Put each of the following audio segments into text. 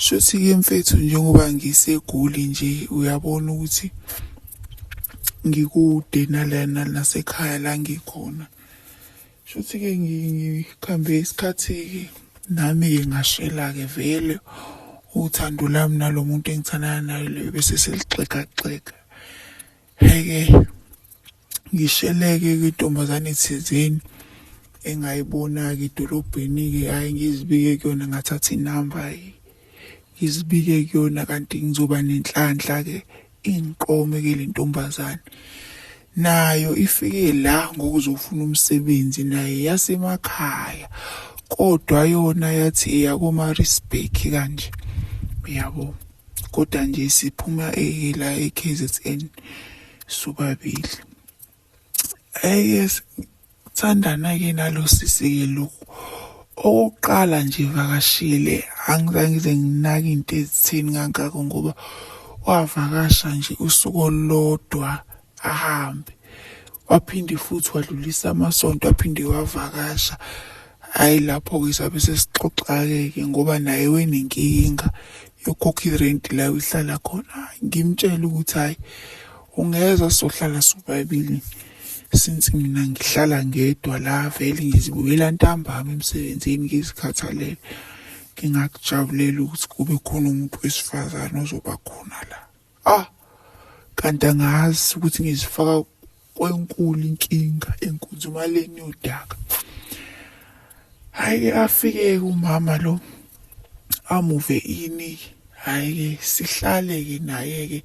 Shuthi-ke mfethu njengoba ngisegoli nje uyabona ukuthi ngikude nalana nasekhaya la ngikhona. Shuthi-ke ngikhambe isikhathi-ke nami-ke ngashela-ke vele uthando lami nalo muntu engithandana naye loyo bese selixegaxega. heke ngisheleke kwintombazane thizeni engayibona-ke edolobheni-ke hhayi ngizibike kuyona ngathatha inamba hhayi ngizibike kuyona kanti ngizoba nenhlanhla-ke ingiqome-ke le ntombazane nayo ifike la ngokuzofuna umsebenzi naye yasemakhaya kodwa yona yathi eyakomarisbek kanje uyabo kodwa nje siphuma la e-kzn sobabili eye sithandana-ke nalo sisi-ke lokhu okokuqala nje vakashile angizange ngize nginake into ezitheni kangako ngoba wavakasha nje usuku olulodwa ahambe waphinde futhi wadlulisa amasonto aphinde wavakasha hhayi lapho-ke sabe sesixoxa-ke-ke ngoba naye wenenkinga yokukhokha irenti la uhlala khona ngimtshele ukuthi hhayi ungeza sohlala sobabili since mina ngihlala ngedwa la vele ngizibuyela ntambama emsebenzini ngizikhathalele ngingakujabulela ukuthi kube khona umuntu wesifazane ozoba khona la ah kanti angazi ukuthi ngizifaka kwenkulu inkinga enkunzumaleni yodaka hayi afike umama lo amuve ini hayi sihlale ke naye ke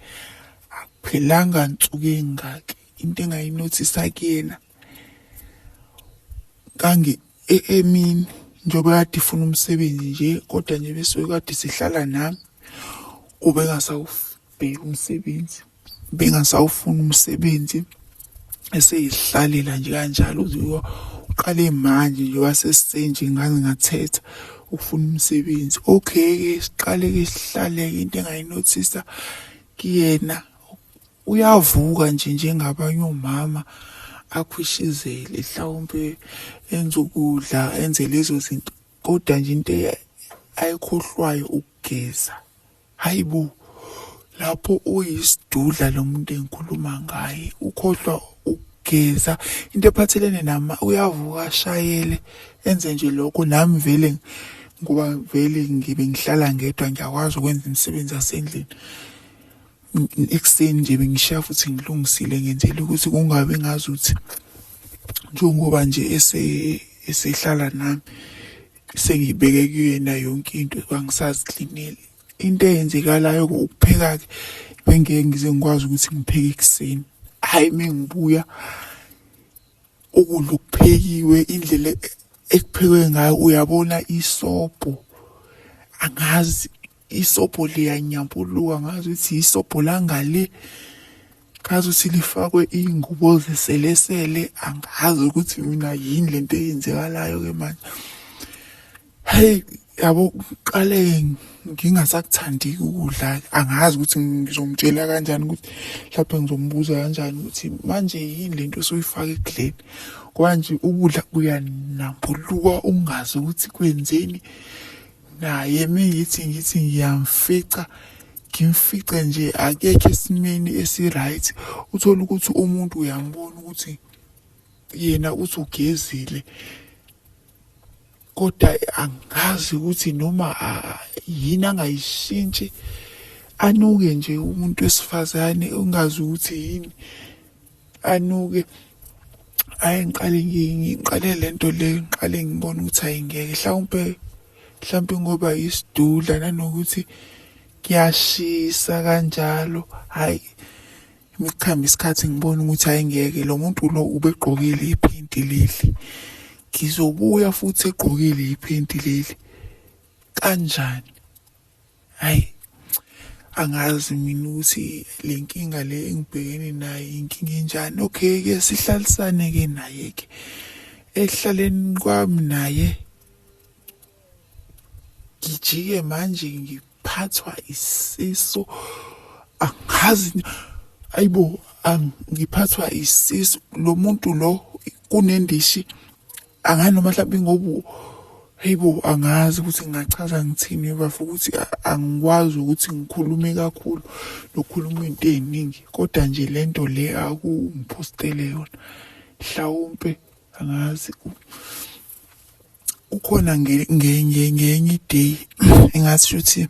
akuphelanga nsuku engaki into engayinothisa kuyena kangi e, emini njengoba kade ifuna umsebenzi nje kodwa nje besuke kade sihlala nami ubengasawubheki umsebenzi bengasawufuni umsebenzi eseyihlalela nje kanjalo uziwa uqale manje nje wasesenje ngaze ngathetha ukufuna umsebenzi okay ke siqale ke sihlaleke into engayinothisa kuyena uyavuka nje njengabanye omama akhwishizele mhlawumbe enze ukudla enze lezo zinto kodwa nje into e- ayikhohlwayo ukugeza hayi bo lapho uyisidudla lo muntu engikhuluma ngaye ukhohlwa ukugeza into ephathelene nama uyavuka ashayele enze nje lokho nami vele ngoba vele ngibe ngihlala ngedwa ngiyakwazi ukwenza imisebenzi yasendlini ekuseni nje bengishiya futhi ngilungisile ngenzela ukuthi kungabi ngazi ukuthi njengoba nje esehlala nami sengibeke kuyena yonke into bangisaziklineli into eyenzekalayo ukupheka-ke bengeke ngize ngikwazi ukuthi ngipheke ekuseni hhayi uma ngibuya ukudla okuphekiwe indlela ekuphekwe ngayo uyabona isobho angazi isobho liyanyambuluka ngazi ukuthi isobho langale ngazi ukuthi lifakwe iy'ngubo zeselesele angazi ukuthi mina yini le nto eyenzekalayo-ke manje heyi yabo kuqale ngingasakuthandi ukudla angazi ukuthi ngizomtshela kanjani ukuthi mhlawumbe ngizombuza kanjani ukuthi manje yini le nto soyifaka ekudleni kwanje ukudla kuyanambuluka ungazi ukuthi kwenzeni naye mengithi ngithi ngiyamfica ngimfice nje akekho esimeni esi-right uthole ukuthi umuntu uyambona ukuthi yena uthi ugezile kodwa angazi ukuthi noma yini angayishintshi anuke nje umuntu wesifazane ungazi ukuthi yini anuke ayi ngiqale ngiqale lento le ngiqale ngibona ukuthi ayingeke mhlawumpe mhlawumpe ngoba isidudla nanokuthi kuyashisa kanjalo hayi imichamba isikhathi ngibona ukuthi ayingeke lo muntu lo ubegqokile iphenti leli ngizobuya futhi egqokile iphenti leli kanjani Hayi angazi mina ukuthi le nkinga le engibhekene nayo inkinga enjani okay ke sihlalisane ke naye ke ekuhlaleni kwami naye ngijike manje ngiphathwa isisu angazi ayibo ngiphathwa isisu lo muntu lo kunendishi angani noma mhlawumbe ngoba heyi bo angazi ukuthi ngingachaza ngithini bafo ukuthi angikwazi ukuthi ngikhulume kakhulu nokukhuluma into ey'ningi kodwa nje le nto le akungiphostele yona mhlawumpe angazi kukhona ngenye ngenye iday engathi shuthi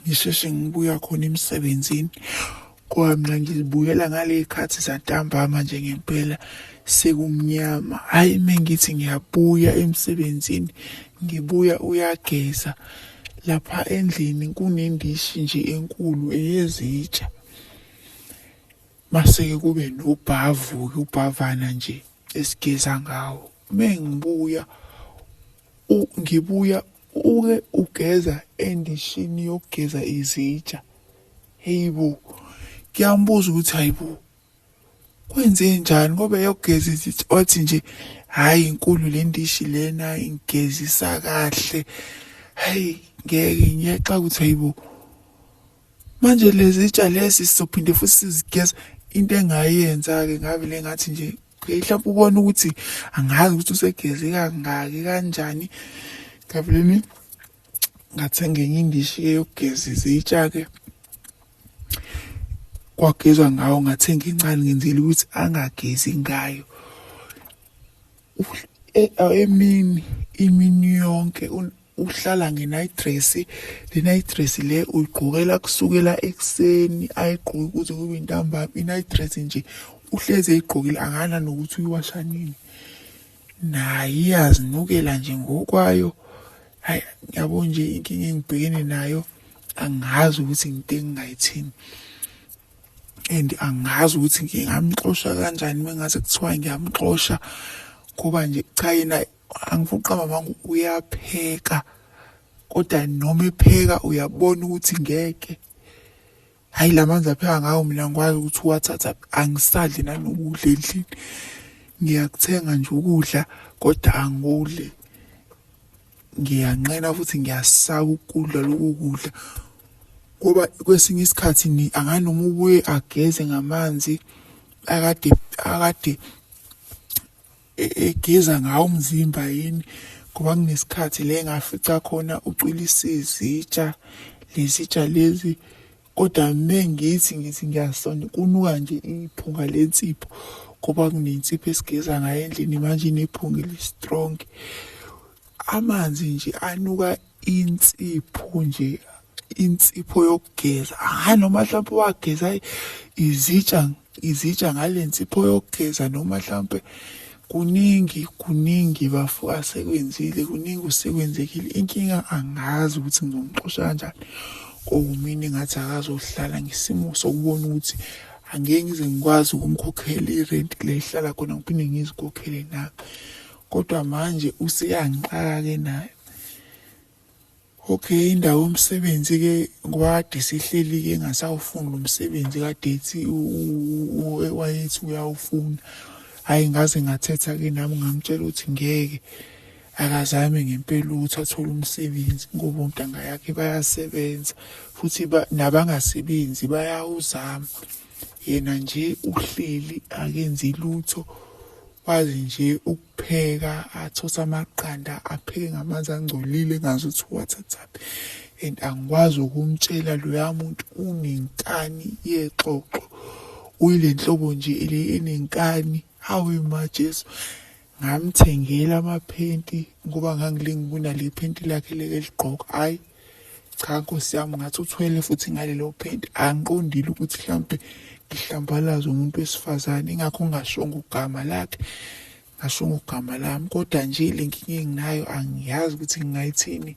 ngisheshe ngibuya khona emsebenzini ngoba mina ngizibuyela ngaley'khathi zantambama nje ngempela sekumnyama hhayi uma ngithi ngiyabuya emsebenzini ngibuya uyageza lapha endlini kunendishi nje enkulu eyezitsha mase-ke kube nobhavu-ke ubhavana nje esigeza ngawo uma ngibuya ngibuya uke ugeza endishini yokugeza izitsha heyibo kuyambuza ukuthi hayibo kwenze njani ngoba eyokugeza izitsha wathi nje hhayi inkulu le ndishi lena ingigezisa kahle hhayi ngeke ngiyaxa ukuthi hayibo manje lezitsha lezi sizophinde futhi sizigeza into engayenza-ke ngavele ngathi nje okay mhlawumbe ubona ukuthi angazi ukuthi usegeze kangaki kanjani ngavele ngathenga enye indishi ke yokugeza izitsha-ke kwagezwa ngawo ngathenga incane ngenzela ukuthi angagezi ngayo e, emini imini yonke uhlala nge-night dress le night dress le uyigqokela kusukela ekuseni ayigqoki kuze kube intambama i-night dress nje uhlezi eyigqokile akana nokuthi uyiwasha nini naye iyazinukela nje ngokwayo hayi ngiyabo nje inkinga engibhekene nayo angazi ukuthi nginte engingayithini and angazi ukuthi ngingamxosha kanjani mengaze kuthiwa ngiyamxosha ngoba nje cha yena angiphoqa mamangu uyapheka kodwa noma epheka uyabona ukuthi ngeke hayi la manzi apheka ngawo mina ngikwazi ukuthi uwathatha angisadli nanokudla endlini ngiyakuthenga nje ukudla kodwa angikudli ngiyanqena futhi ngiyasaka ukudla loku kudla ngoba kwesinye isikhathi ni anganoma ubuye ageze ngamanzi akade akade egeza ngawo umzimba yini ngoba kunesikhathi le ngafica khona ucwilisa izitsha lezitsha lezi kodwa mengithi ngithi ngiyasonda kunuka nje iphunga lensipho ngoba kunensipho esigeza ngayo endlini manje inephunga elistrong amanzi nje anuka insipho nje insipho yokugeza hhayi noma mhlawumpe wageza izitsha izitsha ngale nsipho yokugeza noma mhlawumpe kuningi kuningi bafo asekwenzile kuningi usekwenzekile inkinga angazi ukuthi ngizomxosha kanjani kowumini ngathi akazohlala ngesimo sokubona ukuthi angeke ngize ngikwazi ukumkhokhela irent le ihlala khona ngiphinde ngizikhokhele nami kodwa manje useyangiqaka-ke nayo Okay indawo yomsebenzi ke ngoba kade sihleli ke ngasawufuna umsebenzi kade ethi wayethi uyawufuna hayi ngaze ngathetha ke nami ngamtshela ukuthi ngeke akazame ngempela ukuthi athole umsebenzi ngoba ontanga yakhe bayasebenza futhi nabangasebenzi bayawuzama yena nje uhleli akenzi lutho wazi nje pheka athose amaqanda apheke ngamanzi angcolile ngazi ukuthi uwathathaphi and angikwazi ukumtshela loya muntu unenkani yexoxo uyile nhlobo nje le enenkani hawe majesu ngamthengela amaphenti ngoba ngangilinga ukuna le phenti lakhe leke ligqoka hhayi cha nkosi yami ngathi uthwele futhi ngalelo phenti angiqondile ukuthi mhlawumbe ngihlambalaza umuntu wesifazane ingakho ngingashongo ugama lakhe ngashongo ugama lami kodwa nje le nkinga enginayo angiyazi ukuthi ngingayithini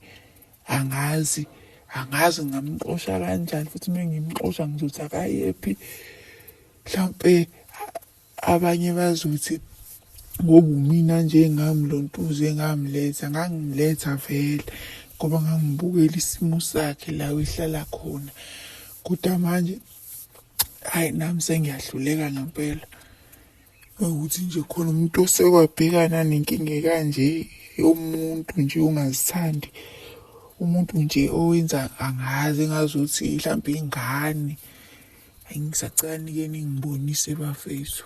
angazi angazi ngingamxosha kanjani futhi uma ngimxosha ngizothi akayephi mhlawumbe Abanye bazothi ngoba umina nje engamlontuza engamletha ngangimletha vele ngoba ngangibukela isimo sakhe la ehlala khona kodwa manje hayi nami sengiyahluleka ngempela ukuthi nje khona umuntu osekwabhekana nenkinga kanje yomuntu nje ongazithandi umuntu nje owenza angazi engazuthi mhlawumbe ingane Hayi ngisacela nike ningibonise bafethu.